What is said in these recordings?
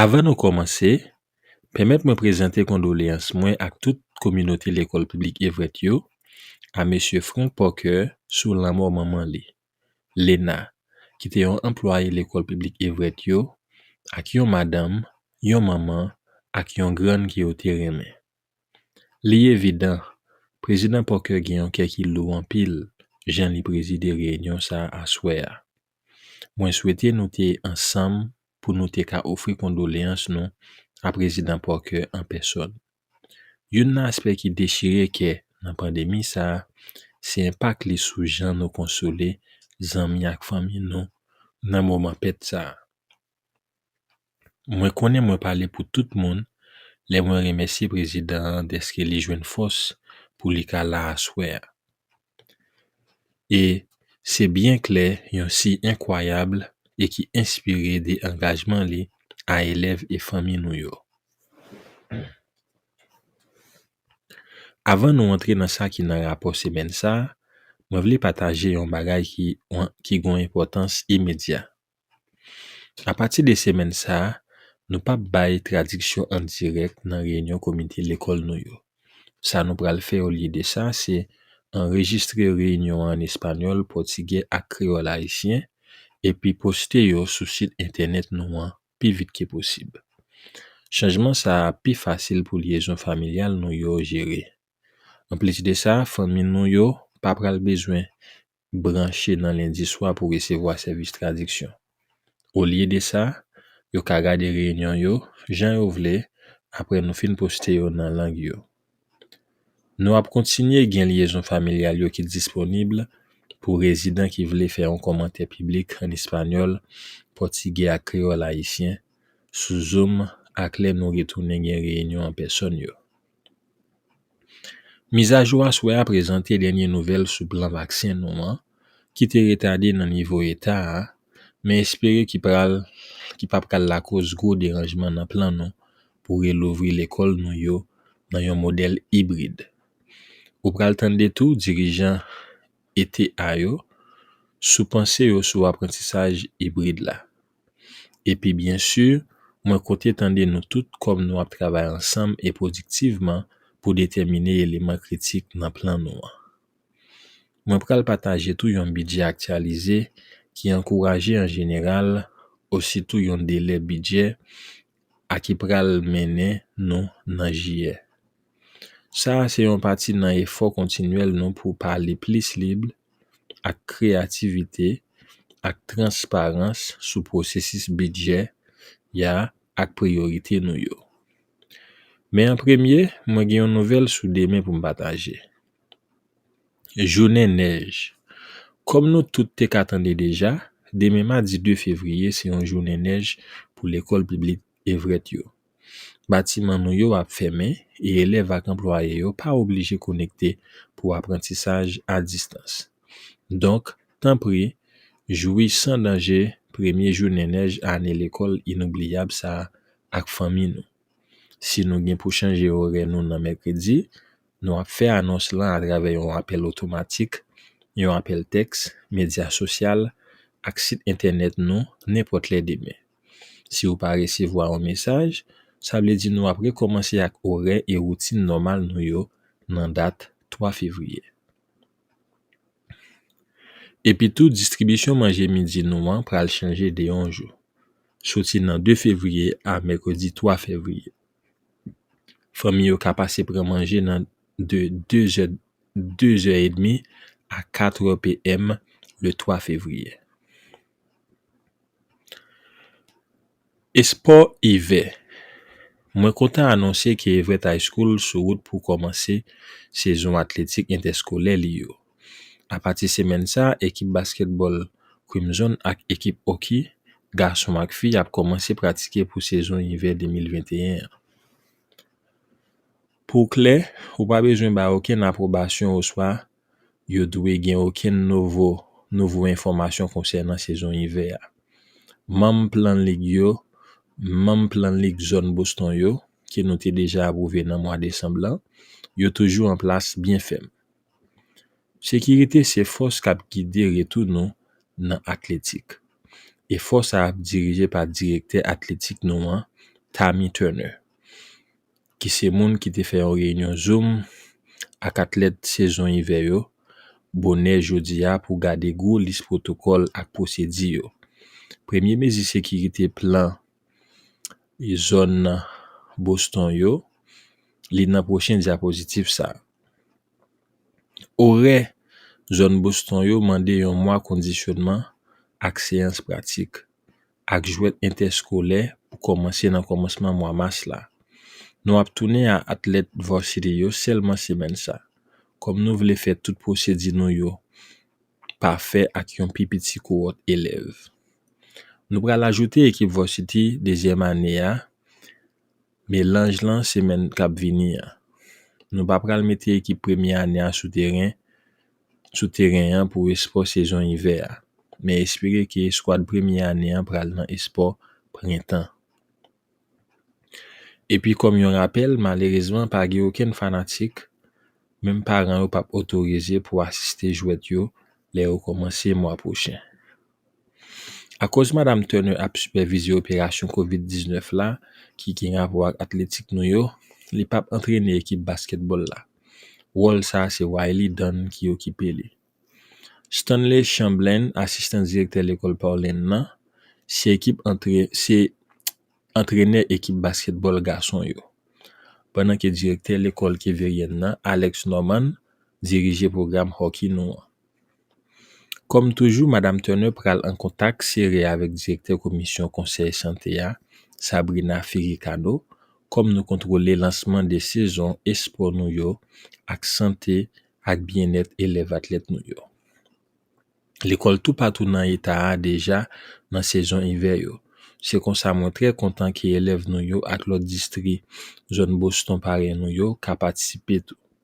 Avan nou kòmanse, pèmèt mwen prezante kondoleyans mwen ak tout kominote Lekòl Piblik Everett yo a Mesye Frank Parker sou lanmò manman li, Lena, ki te yon anplwaye Lekòl Piblik Everett yo ak yon madanm, yon manman, ak yon grann ke yo te renmen. Li evidan, Prezidan Parker gen yon kè ki lou anpil jan li prezide reyinyon sa a aswè a. Mwen swete nou te ansanm pou nou te ka ofri kondoleyans nou a Prezidan Parker an pèsòn. Youn nan aspè ki dechire kè nan pandemi sa a se enpak li sou jan nou konsole zanmi ak fanmi nou nan moman pèt sa a. Mwen konnen mwen pale pou tout moun lè mwen remèsye prezidan an dèske li jwenn fòs pou li ka la aswè a. E se byen klè yon siy enkwayab e ki enspire de angajman li a elèv e fanmi nou yo. Avan nou antre nan sa ki nan rapò semèn sa, mwen vle pataje yon bagay ki gon enpòtans imedya Apati de semèn sa a, nou p ap bay tradiksyon an dirèk nan reyinyon komite lekòl nou yo. Sa nou pral fè olye de sa, se anrejistre reyinyon an an espanyòl, pòtigè ak kreyòl ayisyen epi poste yo sou sit entènèt nou an pi vit ke posib. Chanjman sa a ap pi fasil pou lyezon familyal nou yo jere. Anplis de sa, fanmi nou yo pa pral bezwen branche nan lendi swa pou resevwa sèvis tradiksyon. Olye de sa, yo ka gade reyinyon yo jan yo vle apre nou fin poste yo nan lang yo. Nou ap kontinye gen lyezon familyal yo ki disponib pou rezidan ki vle fè yon kòmantè piblik ann espanyòl, pòtigè ak kreyòl ayisyen sou Zoom ak lè nou retounen gen reyinyon an pèsòn yo. Mizajou aswè a prezante dènye nouvèl sou plan vaksen nou an ki te retade nan nivo eta a men espere ki pral ki pa pral lakoz gwo deranjman nan plan nou pou relouvri lekòl nou yo nan yon modèl ibrid. Ou pral tande tou dirijan eta yo sou panse yo sou aprantisaj ibrid la. Epi byen si, mwen konte tande nou tout kòm nou ap travay ansanm e pwodiktivman pou detèmine eleman kritik nan plan nou an. Mwen pral pataje tou yon bidjè aktyalize ki ankouraje an jeneral ositou yon delè bidjè a ki pral mennen nou nan jiyè. Sa a se yon pati nan efò kontinyèl nou pou pale plis lib, ak kreyativite, ak transparans sou pwosesis bidjè ya ak priyorite nou yo. Men an premye, mwen gen yon nouvèl sou demen pou m pataje. Jounen nèj. Kòm nou tout te ka tande deja, demen madi 2 fevriye se yon jounen nèj pou lekòl piblik Everett yo. Batiman nou yo ap fèmen e elèv ak anplwaye yo pa oblije konekte pou aprantisaj a distans. Donk, tanpri, jwi san danje premye jounen nèj ane lekòl inoubliyab sa a ak fanmi nou! Si nou gen pou chanje orè nou nan mèkredi, nou ap fè anons lan atravè yon apèl otomatik, yon apèl tèks, medya sosyal, ak sit entènèt nou nenpòt lè demen. Si ou pa resevwa yon mesaj, sa vle di nou ap rekòmanse ak orè e woutin nòmal nou yo nan dat 3 fevriye. Epitou, distribisyon manje midi nou an pral chanje de yon jou, soti nan 2 fevriye a mèkredi 3 fevriye. Fanmi yo ka pase pran manje nan de 2 zè 2 zè edmi a 4 èpm le 3 fevriye. Espò Ivè Mwen kontan anonse ke Everett High School sou wout pou kòmanse sezon atletik entèskolè li yo. Apati semèn sa a, ekip baskètbòl Crimson ak ekip hockey, gason ak fi, ap kòmanse pratike pou sezon ivè 2021 an. Pou w klè, ou pa bezwen bay okenn apwobasyon oswa yo dwe gen okenn novo nouvo enfòmasyon konsènan sezon ivè a. Manm Plan Lig yo Manm Plan Lig Zòn Boston yo ke nou te deja apwouve nan mwa desanm lan yo toujou an plas byen fèm. Sekirite se fòs k ap gide retou nou nan atletik, e fòs a ap dirije pa Direktè Atletik nou an, Tammy Turner. ki se moun ki te fè yon reyinyon zoom ak atlèt sezon ivè yo bonè jodi a pou gade gwo lis pwotokòl ak pwosedi yo. Premye mezi sekirite plan zòn Boston yo li nan pwochen dyapozitiv sa. Orè zòn Boston yo mande yon mwa kondisyonman ak seyans pratik ak jwèt entèskolè pou kòmanse nan kòmansman mwa mas la. Nou ap tounen a atlèt Varsity yo sèlman semèn sa. Kòm nou vle fè tout pwosedi nou yo pafè ak yon pi piti kowòt elèv. Nou pral ajoute ekip Varsity dezyèm ane a Melanj lan semèn k ap vini an. Nou pa pral mete ekip premye ane a sou teren sou teren an pou espò sezon ivè a, men espere ke eskwad premye ane an pral nan espò prentan. Epi kòm yon rapèl, malerezman pa gen okenn fanatik, menm paran yo p ap otorize pou asiste jwèt yo lè yo kòmanse mwa pwochen. Akoz Madam Turner ap sipèvize operasyon kovid 19 la ki gen rapò ak atletik nou yo, li pap antrene ekip baskètbòl la. Wòl sa se Wylie Dunn ki okipe li. Stanley Chamblin, asistan direktè lekòl Paulin nan, se ekip antre se antrenè ekip baskètbòl gason yo. Pandan ke direktè lekòl Keveryen nan, Alex Norman, dirije pwogram hockey nou an. Kòm toujou, Madam Turner pral an kontak sere avèk direktè komisyon konsèy sante a, Sabrina Ferricano, kòm nou kontwole lansman 2 sezon espò nou yo ak sante ak byennèt elèv atlèt nou yo. Lekòl toupatou nan eta a deja nan sezon ivè yo, se konsa mwen trè kontan ke elèv nou yo ak lòt distri zòn Boston parèy nou yo ka patisipe tou.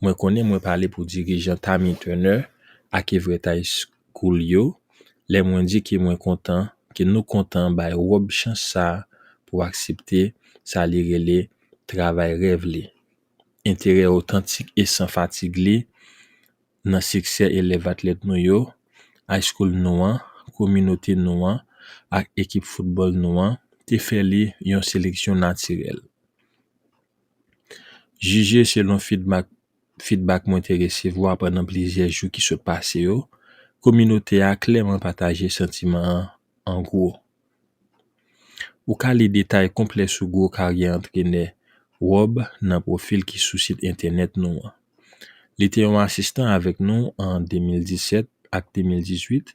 Mwen konnen mwen pale pou dirijan Tammy Turner ak Everett High School yo lè mwen di ke mwen kontan ke nou kontan bay Rob chans sa pou aksepte sa li rele travay rèv li, enterè otantik e san fatig li nan siksè elèv atlèt nou yo, High School nou an, kominote nou an ak ekip foutbòl nou an te fè li yon seleksyon natirèl. Jije selon fidmak fidbak mwen te resevwa pandan plizyè jou ki sot pase yo, kominote a klèman pataje santiman an an gwo. Ou ka li detay konplè sou gwo karyè antrenè Rob nan pwofil ki sou sit entènèt nou an. Li te yon asistan avèk nou an 2017 ak 2018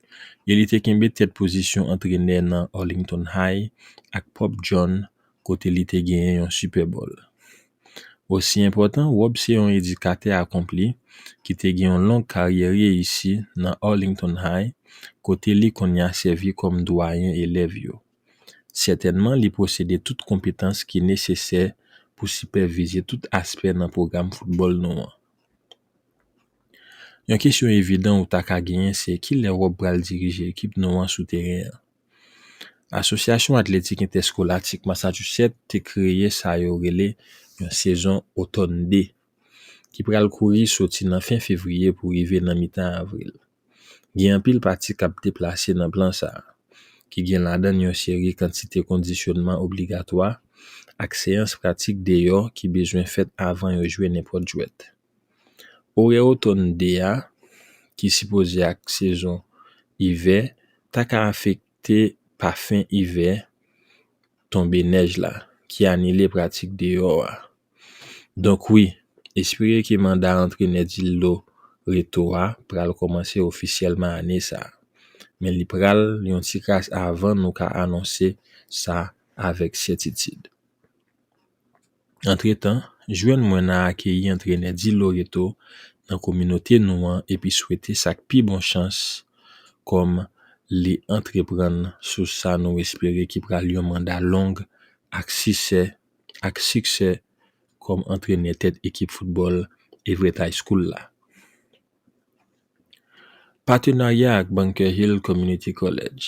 e li te kenbe tèt pozisyon antrenè nan Arlington High ak Pope John kote li te genyen yon Super Bowl. Osi enpòtan, Rob se yon edikatè akonpli ki te gen yon long karyè reyisi nan Arlington High, kote li konnya sèvi kòm dwayen elèv yo. Sètènman li posede tout konpetans ki nesesè pou sipèvize tout aspè nan pwogram foutbòl nou an. Yon kesyon evidan ou ta ka genyen se kilè Rob pral dirije ekip nou an sou teren an? Asosyasyon Atletik Entèskolatik Massachusetts te kreye sa yo rele yon sezon otòn de, ki pral kouri soti nan fen fevriye pou rive nan mitan avril. Gen anpil pati k ap deplase nan plan sa a, ki gen ladan l yon seri kantite kondisyònman obligatwa ak seyans pratik deyò ki bezwen fèt avan yo jwe nenpòt jwèt. Orè otòn 2 a, ki sipoze ak sezon ivè, ta ka afekte pa fen ivè tonbe nèj la, ki anile pratik deyò a. Donk wi, espere ke manda antrenè Dildo Reto a pral kòmanse ofisyèlman ane sa. Men li pral yon ti kras avan nou ka anonse sa avèk sètitid. Antretan, jwenn mwen nan akeyi antrenè Di Loreto nan kominote nou an epi swete sa k pi bon chans kòm li antreprann sou sa nou espere ki pral yon manda long ak sisè ak siksè kòm antrenè tèt ekip foutbòl Everett High School la. Patenarya ak Bunker Hill Community College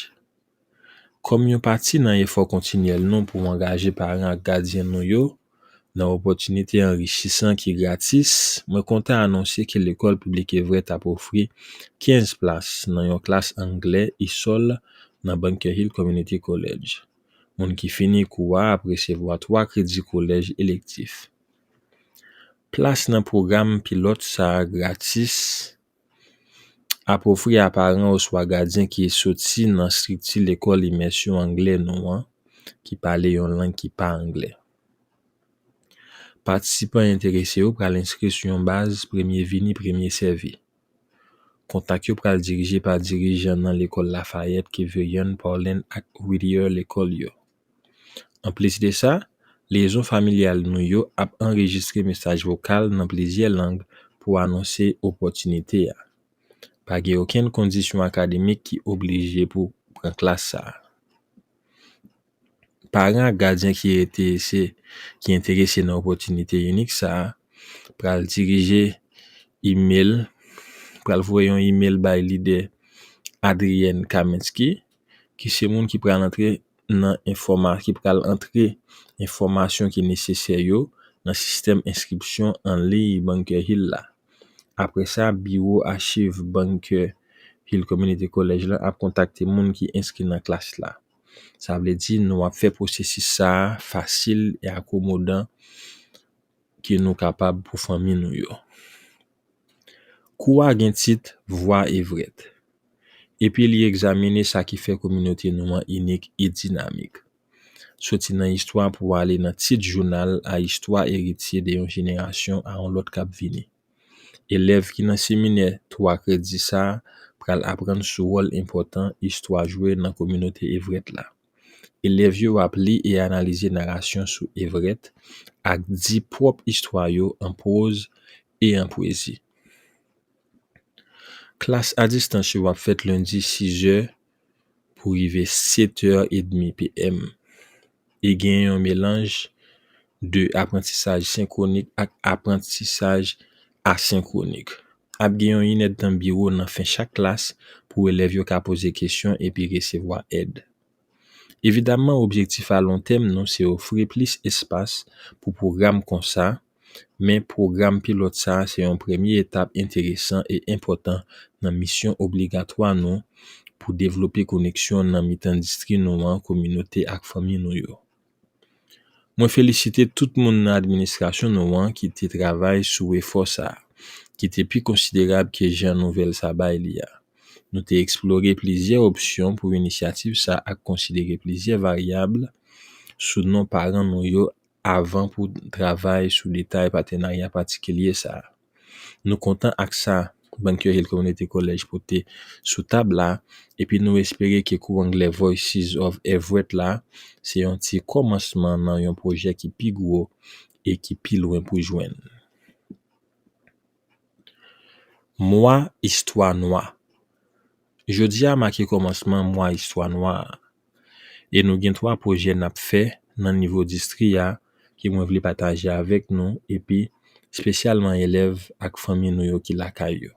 Kòm yon pati nan efò kontinyèl nou pou angaje paran ak gadyen nou yo nan opòtinite anrichisan ki gratis, mwen kontan anonse ke Lekòl Piblik Everett ap ofri 15 plas nan yon klas Anglè isòl nan Bunker Hill Community College. Moun ki fini kou a ap resevwa twa kredi kolèj elektif. Plas nan pwogram pilòt sa a gratis Ap ofri a paran oswa gadyen ki soti nan estrikti Lekòl Imèsyon Anglè nou an ki pale yon lang ki pa anglè. Patisipan enterese yo pral enskri sou yon baz premye vini premye sèvi. Kontak yo pral dirije pa dirijan nan Lekòl Lafayette, Keveyon, Paulin ak Whittier Lekòl yo. Anplis de sa, liyezon familyal nou yo ap anrejistre mesaj vokal nan plizyè lang pou anonse opòtinite a. Pa gen okenn kondisyon akademik ki oblije pou pran klas sa a. Paran ak gadyen ki enterese ki enterese nan opòtinite inik sa a pral dirije imel pral voye yon imel bay lidè Adrienne Kaminsky ki se moun ki pral antre nan enfòma, ki pral antre enfòmasyon ki nesesè yo nan sistèm enskripsyon anliy Bunker Hill la. Apre sa, Biwo Achiv Bunker Hill Community College la ap kontakte moun ki enskri nan klas la. Sa vle di nou ap fè pwosesis sa a fasil e akomodan ke nou kapab pou fanmi nou yo. Kou a gen tit Vwa Evret epi li egzamine sa ki fè kominote nou an inik e dinamik. Soti nan istwa pou ale nan tit jounal a istwa eritye de yon jenerasyon a yon lòt k ap vini. Elèv ki nan seminè twa kredi sa a pral aprann sou wòl enpòtan istwa jwe nan kominote Evret la. Elèv yo ap li e analize narasyon sou Everett ak di pwòp istwa yo an pwoz e an pwezi. Klas a distans yo ap fèt lendi 6 è pou rive 7 è edmi PM e gen yon melanj de aprantisaj senkwonik ak aprantisaj Asenkwonik. Ap gen yon inèdtan biwo nan fen chak klas pou elèv yo ka poze kesyon epi resevwa èd. Evidamman objektif a lon tèm nou se ofri plis espas pou pwogram konsa, men pwogram pilòt sa a se yon premye etap enteresan e enpòtan nan misyon obligatwa nou pou devlope koneksyon nan mitan distri nou an, kominote ak fanmi nou yo. Mwen felisite tout moun nan administrasyon nou an ki te travay sou efò sa, ki te pi konsiderab ke jan nouvèl sa bay li a. Nou te eksplore plizyè opsyon pou inisyativ sa ak konsidere plizyè varyab sou non paran nou yo avan pou travay sou detay patenarya patikilye sa. Nou kontan ak sa Bankyo Hill Community College pote sou tab la epi nou espere ke kou anglè Voices of Everett la se yon ti kòmansman nan yon pwojè ki pi gwo e ki pi lwen pou jwenn. Mwa Istwa Nwa. Jodi a make kòmansman mwa istwa nwa a, e nou gen 3 pwojè n ap fè nan nivo distri a ke mwen vle pataje avèk nou epi spesyalman elèv ak fanmi nou yo ki lakay yo.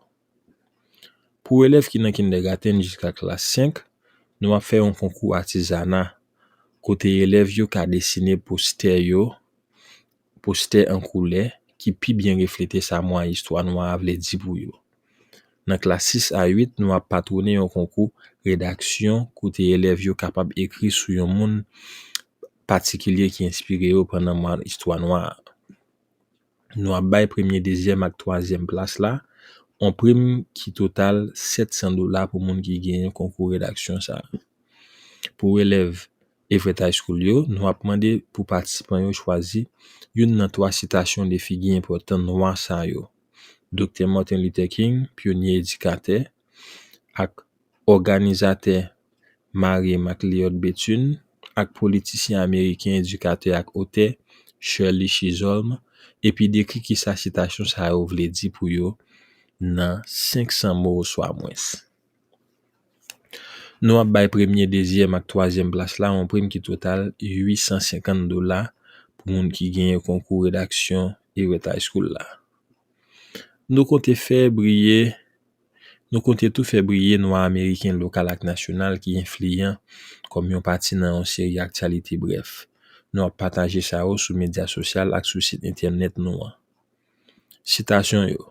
Pou elèv ki nan kindègatenn jiska klas 5, nou ap fè yon konkou atizana kote elèv yo ka desine postè yo Postè an koulè ki pi byen reflete sa mwa istwa nwa a vle di pou yo. Nan klas 6 a 8, nou ap patwone yon konkou redaksyon kote elèv yo kapab ekri sou yon moun patikilye ki enspire yo pandan mwa istwa nwa a. Nou ap bay premye, dezyèm ak twazyèm plas la on prim ki total 700 dola pou moun ki genyen konkou redaksyon sa a. Pou elèv Everett High School yo, nou ap mande pou patisipan yo chwazi youn nan twa sitasyon de figi enpòtan Nwa sa yo, Doktè Martin Luther King, pyonye edikatè ak òganizatè Mary MacLeod Bethune, ak politisyen ameriken, edikatè ak otè Shirley Chisholm, epi dekri kisa sitasyon sa yo vle di pou yo nan 500 mo oswa mwens. Nou ap bay premye, dezyèm ak twazyèm plas la yon prim ki total 850 dola pou moun ki genyen konkou redaksyon Irèt High School la. Nou konte fè briye, nou konte tou fè briye nwa ameriken lokal ak nasyonal ki enfliyan kòm yon pati nan yon seri aktyalite brèf. Nou ap pataje sa yo sou medya sosyal ak sou sit entènèt nou an. Sitasyon yo.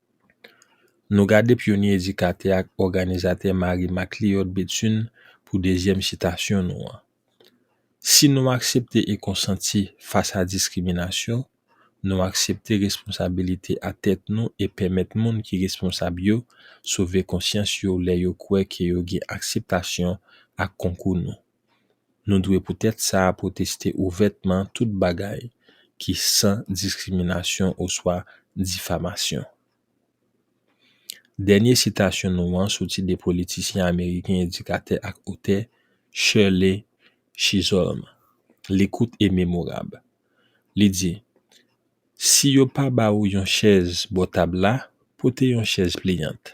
Nou gade pyonye edikatè ak òganizatè Marie Macleod Bethune pou dezyèm sitasyon nou an. Si nou aksepte e konsanti fas a diskriminasyon, nou aksepte responsabilite a tèt nou e pèmèt moun ki responsab yo sove konsyans yo lè yo kwè ke yo gen akseptasyon ak konkou nou. Nou dwe poutèt sa pwoteste ouvètman tout bagay ki san diskriminasyon oswa difamasyon. Dènye sitasyon nou an soti de politisyen ameriken edikatè ak otè Shirley Chisholm. Li kout e memorab. Li di, Si yo pa ba ou yon chèz bò tab la, pote yon chèz pliyant.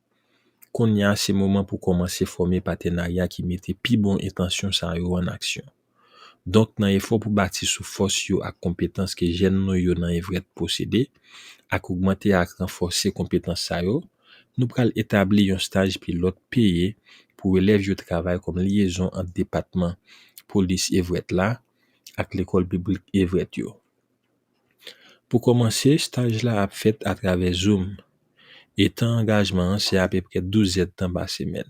Kounye a se moman pou kòmanse fòme patenarya ki mete pi bon entansyon sa yo an aksyon. Donk nan efò pou bati sou fòs yo ak konpetans ke jèn nou yo nan Evrèt posede ak ogmante ak ranfòse konpetans sa yo, nou pral etabli yon staj pilòt peye pou elèv yo travay kòm lyezon ant depatman Polis Evrèt la ak Lekòl Piblik Evrèt yo. Pou kòmanse, staj la ap fèt atravè Zoom, e tan angajman an se apeprè 12 zèdtan pa semèn.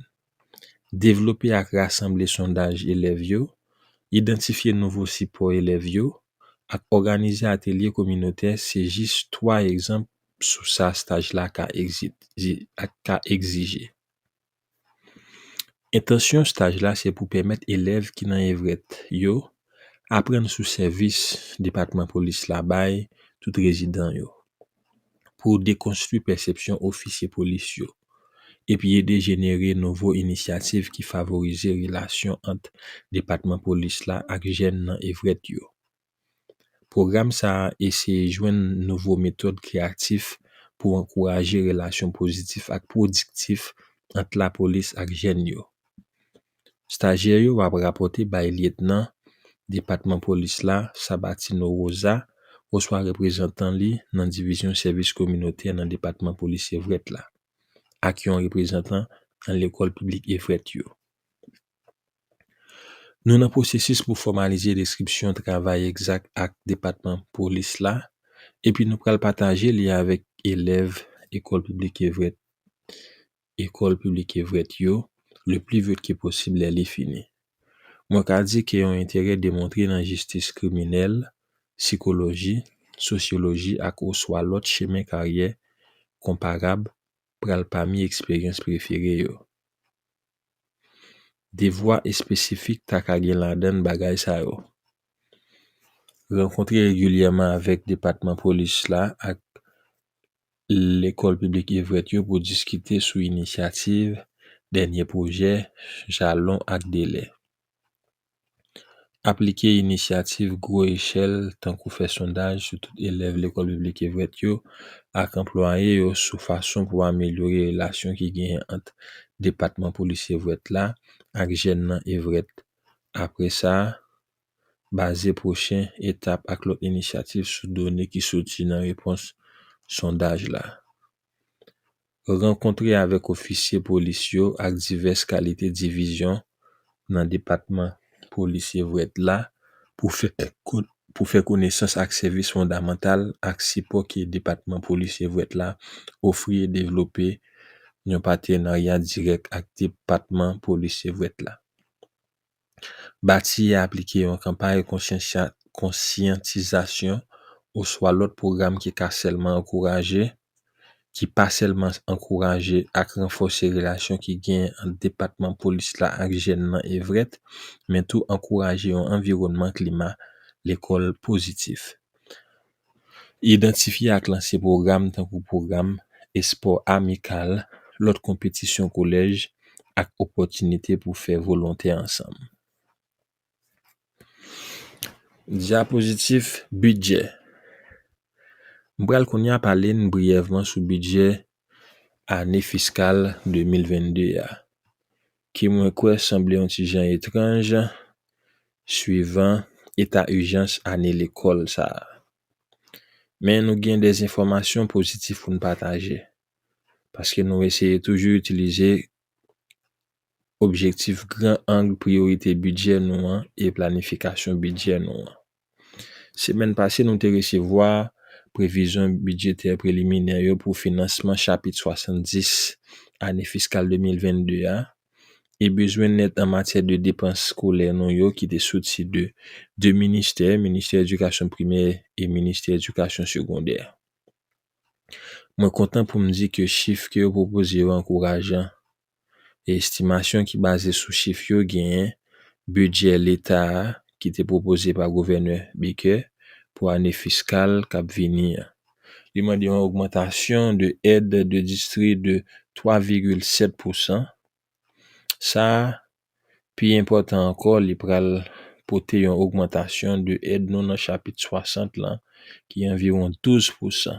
Devlope ak rasanble sondaj elèv yo, idantifye nouvo sipò elèv yo, ak òganize atelye kominotè se jis twa egzanp sou sa staj la ka egzije. Entansyon staj la se pou pèmèt elèv ki nan Everett yo aprann sou sèvis Depatman Polis la bay tout rezidan yo, pou dekonstwi pèsepsyon ofisye polis yo, epi ede jenere nouvo inisyativ ki favorize relasyon ant Depatman Polis la ak jèn nan Everett yo. Pwogram sa a eseye jwenn nouvo metòd kreyatif pou ankouraje relasyon pozitif ak pwodiktif ant lapolis ak jèn yo. Stajyè yo ap rapòte bay lyetnan Depatman Polis la Sabatino Rosa oswa reprezantan li nan Divizyon Sèvis Kominotè nan Depatman Polis Everett la ak yon reprezantan nan Lekòl Piblik Everett yo. Nou nan pwosesis pou fòmalize deskripsyon travay egzak ak depatman polis la epi nou pral pataje li avèk elèv Ecole Publique Evrett Ecole Publique Evrett yo le pli vit ke posib lè li fini. Mwen ka di ke yon enterè demontre nan jistis kriminèl, sikoloji, sosyoloji ak oswa lòt chemen karyè konparab pral pami eksperyans prefere yo. Devwa espesifik ta ka gen ladan n bagay sa yo, Rankontre regilyèman avèk depatman polis la ak Lekòl Piblik Everett yo pou diskite sou inisyativ, dènye pwojè, jalon ak delè. Aplike inisyativ gwo echèl tankou fè sondaj sou tout elèv Lekòl Piblik Everett yo ak anplwaye yo sou fason pou amelyore relasyon ki genyen ant Depatman Polis Everett la ak jèn nan Everett. Apre sa, baze pwochen etap ak lòt inisyativ sou done ki soti nan repons sondaj la. rankontre avèk ofisye polis yo ak divès kalite divizyon nan depatman polis Everett la pou fè konesans ak sèvis fondamantal ak sipò ke depatman polis Everett la ofri e devlope yon patenarya dirèk ak depatman polis Everett la. Bati e aplike yon kanpay konsyantizasyon oswa lòt pwogram ki ka sèlman ankouraje, ki pa sèlman ankouraje ak ranfòse relasyon ki genyen ant Depatman Polis la ak jèn nan Everett, men tou ankouraje yon anviwònman klima lekòl pozitif. Idantifye ak lanse pwogram tankou pwogram espò amikal, lòt konpetisyon kolèj, ak opòtinite pou fè volontè ansanm. Dyapozitif, Bidjè M pral kounye a pale n briyèvman sou bidjè ane fiskal 2022 a. Ki mwen kwè sanble yon ti jan etranj, swivan eta ijans ane lekòl sa a. Men nou gen de enfòmasyon pozitif pou n pataje, paske nou eseye toujou itilize objektif gran ang priyorite bidjè nou an e planifikasyon bidjè nou an. Semèn pase nou te resevwa previzyon bidjetè preliminè yo pou finansman chapit 70 ane fiskal 2022 a e bezwen nèt an matyè de depans skolè nou yo ki te soti de 2 ministè, Ministè Edikasyon Primè e Ministè Edikasyon Segondè. Mwen kontan pou m di ke chif ke yo pwopoze yo ankourajan. E estimasyon ki baze sou chif yo genyen bidjè leta a ki te pwopoze pa Gouvènè Baker pou ane fiskal k ap vini an. Li mande yon ogmantasyon de èd de distri de 3 vigil 7 pousan. Sa a, pi enpòtan ankò, li pral pote yon ogmantasyon de èd nou nan chapit 60 lan ki anviwon 12 pousan.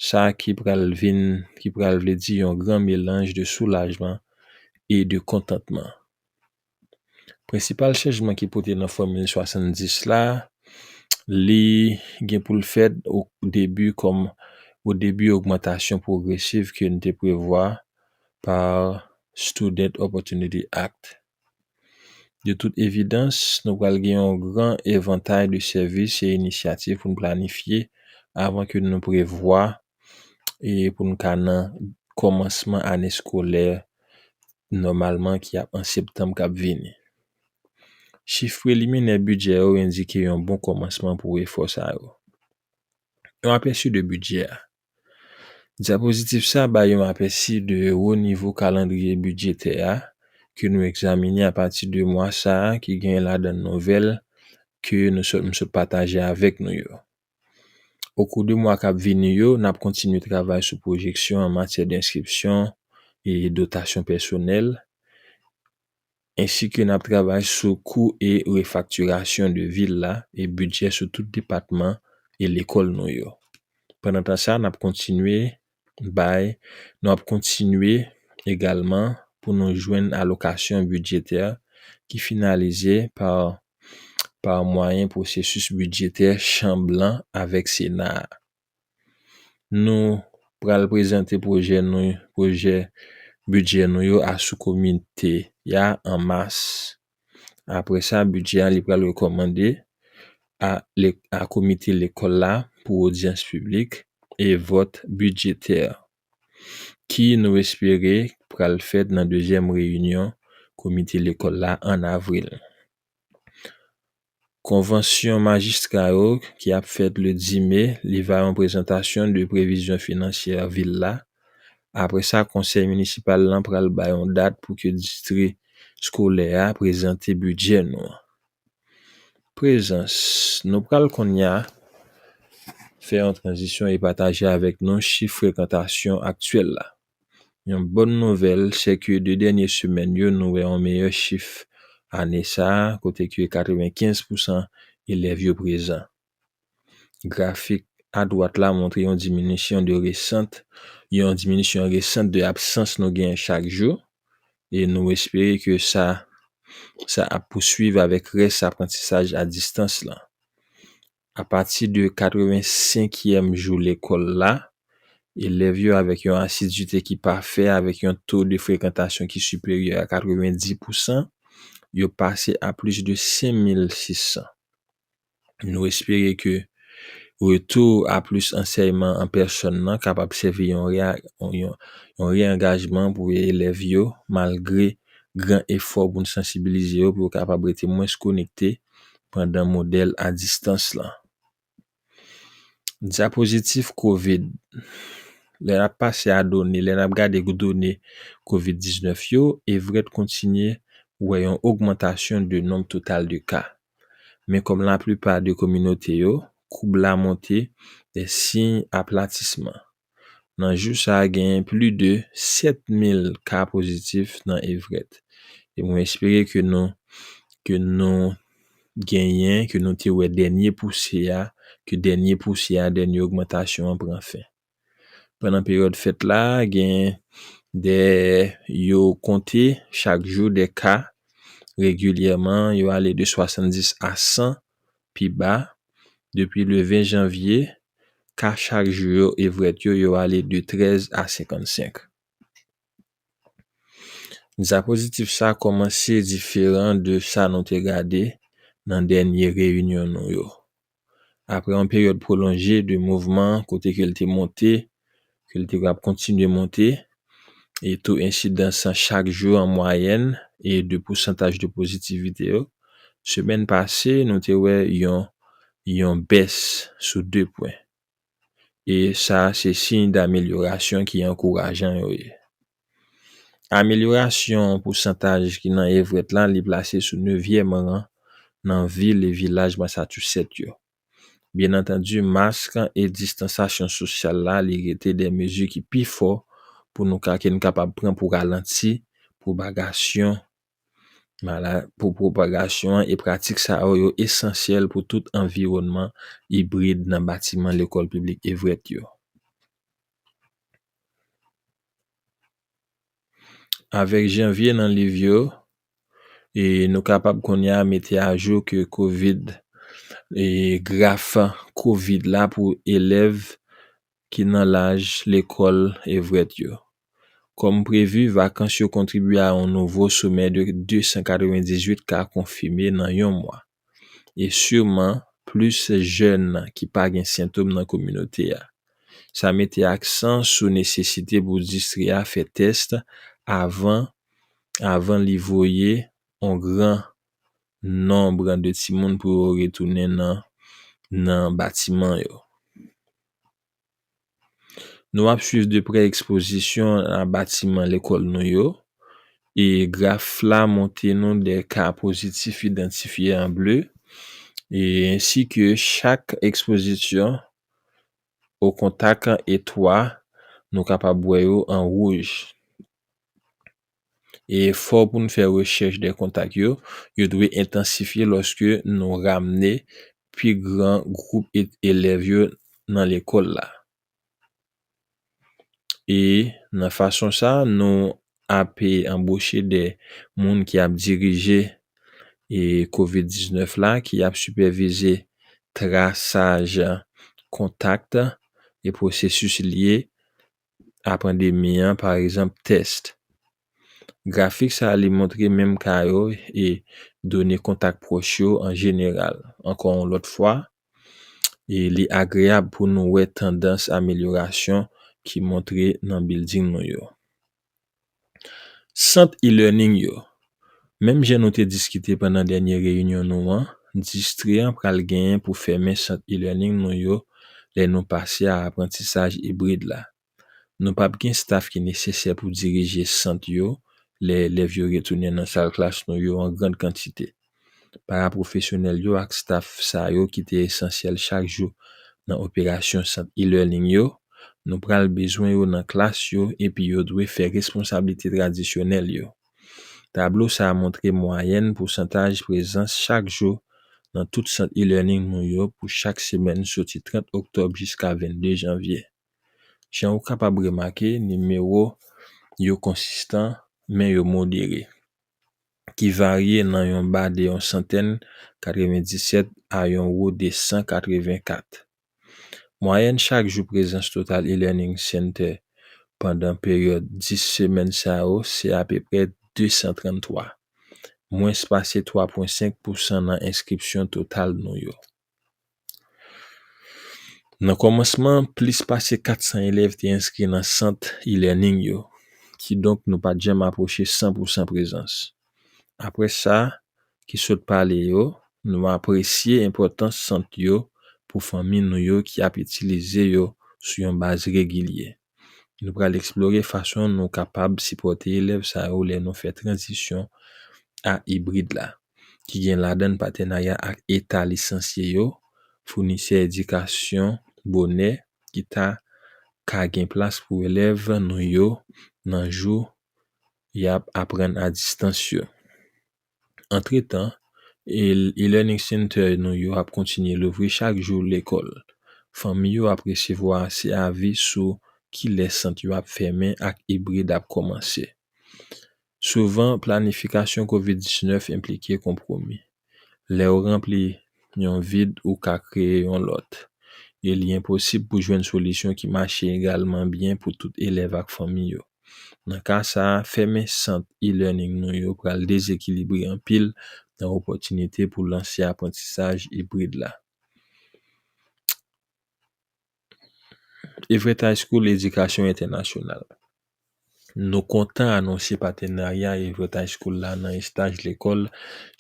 sa ki pral vin, ki pral vle di yon gran melanj de soulajman e de kontantman. Prensipal chanjman ki pote nan fòmil 70 la, li gen pou l fèt o debi kòm o debi ogmantasyon pwogresiv ke n te prevwa pa Student Opportunity Act. De tout evidans, nou pral gen yon gran evantay de sèvis e inisyativ pou n planifye avan ke nou prevwa e pou n ka nan kòmansman ane eskolè nòmalman ki ap an septanm k ap vini. Chif preliminè bidjè yo endike yon bon kòmansman pou efò sa yo. Yon apèsi de bidjè a. Dyapozitiv sa bay yon apèsi de wo nivo kalandriye bidjetè a ke nou egzamine apati de mwa sa ki genyen ladan nouvèl ke nou sot m sot pataje avèk nou yo. Okou de mwa k ap vini yo, n ap kontinye travay sou pwojeksyon an matyè de enskripsyon e dotasyon pèsonèl, Ensi ke nap travay sou kou e refaktirasyon de vil la e bidjè sou tout depatman e lekòl nou yo. Pandan tan sa nap kontinye bay nou ap kontinye egalman pou nou jwenn alokasyon bidjetè ki finalize pa pa mwayen pwosesis bidjetè chanb lan avèk sena a. nou pral prezante pwojè nou pwojè bidjè nou yo a sou komite a an mas apre sa bidjè a li pral rekòmande a le a komite lekòl la pou odyans piblik e vòt bidjetè ki nou espere pral fèt nan dezyèm reyinyon komite lekòl la an avril. Konvansyon majistra yo ki ap fèt le 10 me li va yon prezantasyon de previzyon finansyè vil la, apre sa konsèy minisipal lan pral bay yon dat pou ke distri skolè a prezante bidjè nou an. Prezans, Nou pral konnya fè yon tranzisyon e pataje avèk nou chif frekantasyon aktyèl la. Yon bòn nouvèl sèke 2 dènye semèn yo nou wè yon meyè chif ane sa a kote ke 95 pousan elèv yo prezan. Grafik adwat la montre yon diminisyon de resant yon diminisyon resant de absans nou genyen chak jou e nou espere ke sa sa ap pouswiv avèk rès aprantisaj a distans lan. Apati de katrevensenkyèm jou lekòl la, elèv yo avèk yon asidite ki pafè avèk yon to de frekantasyon ki siperyè a katrevendi pousan yo pase a plis de sen mil sis san. Nou espere ke retou a plis ansèyman an pèsòn nan kapab sèvi yon re-angajman pou elèv yo malgre gran efò pou n sansibilize yo pou yo kapab rete mwens konekte pandan modèl a distans lan. Dyapozitif covid, Lè n ap pase a done, lè n ap gade done covid 19 yo, Everett kontinye wè yon ogmantasyon de nonb total de ka. Men kòm laplipa de kominote yo, koub la monte de siy aplatisman. Nan jou sa a genyen pli de 7 mil ka pozitif nan Evrèt. E mwen espere ke nou ke nou genyen, ke nou te wè dènye pousye a, ke dènye pousye a, dènye ogmantasyon an pran fen. Pandan peryòd fèt la, genyen de yo konte chak jou de ka regilyèman yo ale de 70 a 100 pi ba, depi le 20 janvye, ka chak jou yo evret yo, yo ale de 13 a 55. Diapozitif sa komanse diferan de sa nou te gade nan dènye reyinyon nou yo. Apre yon peryòd pwolonje de mouvman kote ke l te monte ke li te ap kontinye monte, e to ensidans lan chak jou an mwayèn, e de pousantaj de pozitivite yo. Semèn pase, nou te wè yon yon bès sou 2 pwen. E sa a se siy damelyorasyon ki ankourajan yo ye. Amelyorasyon pousantaj ki nan Everett la, li plase sou nevyèm ran nan vil e vilaj Massachusetts yo. Byen antandi mask e distansasyon sosyal la li rete 2 mezi ki pi fò pou nou ka ke n kapab pran pou ralanti pwopagasyon mala pou pwopagasyon e pratik sa yo yo esansyèl pou tout anviwònman ibrid nan batiman lekòl piblik Evrèt yo. Avèk janvye nan liv yo, e nou kapab kounye a mete ajou ke covid, e graf covid la pou elèv ki nan laj lekòl evret yo. Kòm previ, vakans yo kontribye a yon nouvo somè de 298 ka konfime nan yon mwa. e siman plis jèn ki pa gen sentom nan kominote a. Sa mete aksan sou nesesite pou distri a fè tès avan avan li voye on gran nonb de timoun pou yo retounen nan nan batiman yo. Nou ap swiv de prè ekspozisyon nan batiman lekòl nou yo, e graf la montre nou de ka pozitif idantifye an ble, e ensi ke chak ekspozisyon o kontak e 3 nou kapab wè yo an wouj. E efò pou n fè rechèch de kontak yo, yo dwe entansifye lòske nou ramne pi gran gwoup elèv yo nan lekòl la. E nan fason sa, nou ape anboche de moun ki ap dirije e covid 19 la, ki ap sipèvize trasaj kontak e pwosesis li ye apran demi an, pa egzanp, test. Grafik sa li montre menm ka yo e done kontak pwòch yo an jeneral. Ankò yon lòt fwa, e li agreyab pou nou wè tandans amelyorasyon ki montre nan bilding nou yo. Sant e-learning yo, Menm jan nou te diskite pandan dènye reyinyon nou an, distri an pral genyen pou fèmen sant e-learning nou yo lè nou pase a aprantisaj ibrid la. Nou pap gen staf ki nesesè pou dirije sant yo lè elèv yo retounen nan salklas nou yo an grand kantite. Parapwofesyonèl yo ak staf sa yo ki te esansyèl chak jou nan operasyon sant e-learning yo, nou pral bezwen yo nan klas yo epi yo dwe fè responsablite tradisyonèl yo. Tablo sa a montre mwayèn pousantaj prezans chak jou nan tout sant e-learning nou yo pou chak semèn soti 30 oktòb jiska 22 janvye. Jan ou kapab remake, nimewo yo konsistan, men yo modere. ki varye nan yon ba de yon santèn, 97, a yon wo de 184. Mwayèn chak jou prezans total e-learning center pandan peryòd 10 semèn sa yo se apeprè 233, mwens pase 3,5 pousan nan enskripsyon total nou yo. Nan kòmansman an, plis pase 400 elèv te enskri nan sant e-learning yo, kidonk nou pa t janm apwoche san pou san prezans. Apre sa ki sot pale yo, nou apresye enpòtans sant yo pou fanmi nou yo ki ap itilize yo sou yon baz regilye. Nou pral eksplore fason nou kapab sipòte elèv sa yo lè nou fè tranzisyon a ibrid la, ki gen ladan patenarya ak eta lisansye yo, founisè edikasyon bonè ki ta ka gen plas pou elèv nou yo nan jou y ap aprann a distans yo. Antretan, e-learning center nou yo ap kontinye louvri chak jou lekòl. Fanmi yo ap resevwa se avi sou kilè sant yo ap fèmen ak ibrid ap kòmanse. Souvan, planifikasyon covid 19 enplike konpwomi. Lè ou ranpli yon vid ou ka kreye yon lòt, e li enposib pou jwenn solisyon ki mache egalman byen pou tout elèv ak fanmi yo. Nan ka sa a, fèmen sant e-learning nou yo pral dezekilibre anpil nan opòtinite pou lanse aprantisaj ibrid la. Everett High School Edikasyon Entènasyonal Nou kontan anonse patenarya Everett High School la nan estaj lekòl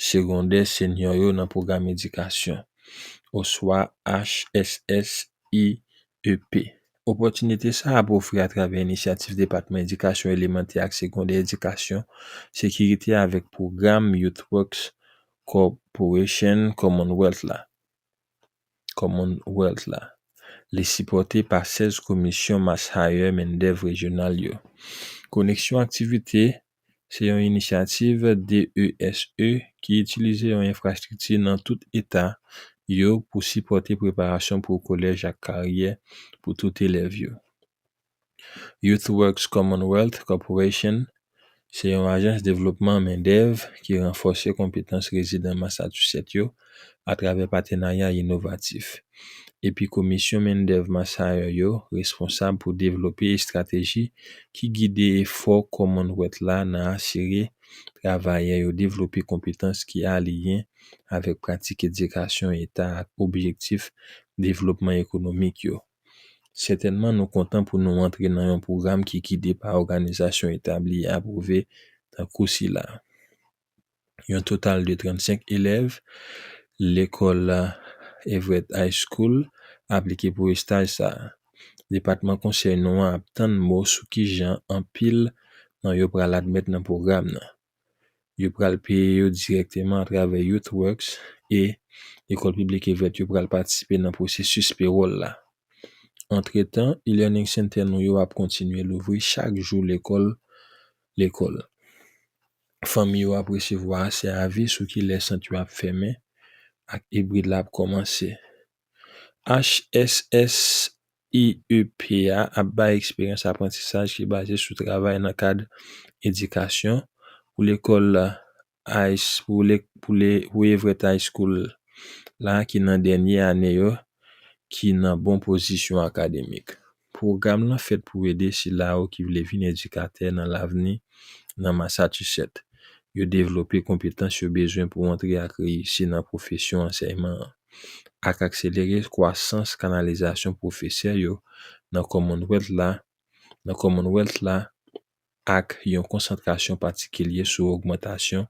segondè senyò yo nan pwogram edikasyon, oswa HSSI, CEP. Opòtinite sa a ap ofri atravè inisyativ Depatman Edikasyon Elemantè ak Segondè Edikasyon Sekirite avèk pwogram Youth Works Corporation Commonwealth la, Commonwealth la. Li sipòte pa 16 Komisyon MassHire Mendèv Rejyonal yo. Koneksyon aktivite se yon inisyativ DESE ki itilize yon enfrastrikti nan tout eta yo pou sipòte preparasyon pou kolèj ak karyè pou tout elèv yo. YouthWorks Commonwealth Corporation se yon ajans devlopman mendèv ki ranfòse konpetans rezidan Massachusetts yo atravè patenarya inovatif, epi Komisyon Mendèv Massayò yo responsab pou devlope estrateji ki gide efò Commonwealth la nan asire travayè yo devlope konpetans ki aliyen avèk pratik edikasyon eta ak objektif devlopman ekonomik yo. Sètènman nou kontan pou nou antre nan yon pwogram ki gide pa òganizasyon etabli e apwouve tankou sila a. yon total de 35 elèv lekòl Everett High School aplike pou estaj sa a. Depatman konsèy nou an ap tann mo sou kijan anpil nan yo pral admèt nan pwogram nan. Yo pral peye yo dirèkteman atravè YouthWorks e Lekòl Piblik Everett yo pral patisipe nan pwosesis pewòl la. Antretan, e-learning center nou yo ap kontinye louvri chak jou lekòl lekòl. Fanmi yo ap resevwa asè avi sou ki lè sant yo ap fèmen ak ibrid la ap kòmanse. HSSIEP a ap bay eksperyans aprantisaj ki baze sou travay nan kad edikasyon pou lekòl Woyevrèt High School la ki nan dènye ane yo ki nan bon pozisyon akademik. Pwogram lan fèt pou ede sila yo ki vle vin edikatè nan lavni nan Massachusetts yo devlope konpetans yo bezwen pou antre ak reyisi nan pwofesyon ansèyman an, ak akselere kwasans kanalizasyon pwofesè yo nan Commonwealth la nan Commonwealth la ak yon konsantrasyon patikilye sou ogmantasyon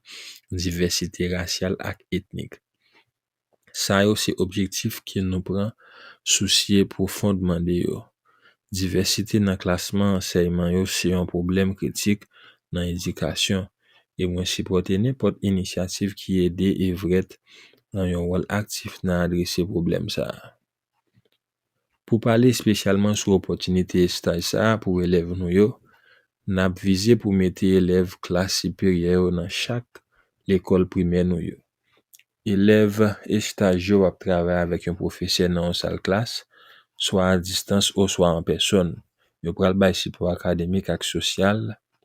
divèsite rasyal ak etnik. Sa yo se objektif ke nou pran sousye pwofondman de yo. Divèsite nan klasman ansèyman yo se yon pwoblèm kritik nan edikasyon, e mwen sipòte nenpòt inisyativ ki ede Everett nan yon wòl aktif nan adrese pwoblèm sa a. Pou pale espesyalman sou opòtinite estaj sa a pou elèv nou yo, n ap vize pou mete elèv klas siperyè yo nan chak lekòl primè nou yo. Elèv estaj yo ap travay avèk yon pwofesè nan yon sal klas, swa a distans oswa an pèsòn. Yo pral bay sipò akademik ak sosyal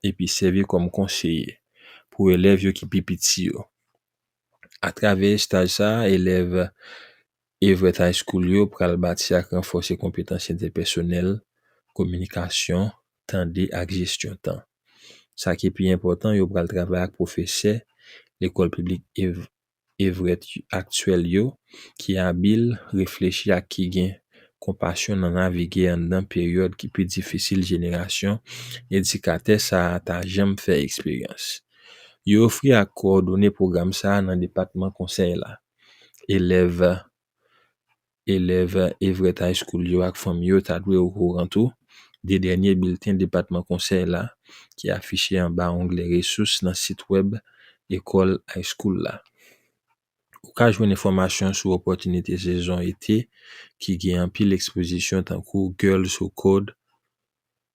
epi sèvi kòm konseye pou elèv yo ki pi piti yo. Atravè estaj sa a, elèv Evret High School yo pral bati ak ranfòse konpetans entèpèsonèl, kominikasyon, tande ak jesyon tan. Sa ki pi enpòtan, yo pral travay ak pwofesè Lekòl Piblik Evret aktyèl yo ki abil, reflechi ak ki gen konpasyon nan navige anndan peryòd ki pi difisil jenerasyon edikatè sa a ta janm fè eksperyans. Yo ofri ak kowòdone pwogram sa a nan depatman konsèy la. Elèv elèv Everett High School yo ak fanmi yo ta dwe okouran tou de dènye bilten Depatman Konsèy la ki afiche anba onglè Resous nan sitwèb Lekòl High School la. Ou ka jwenn enfòmasyon sou opòtinite sezon ete ki gen anpil ekspozisyon tankou Girls Who Code,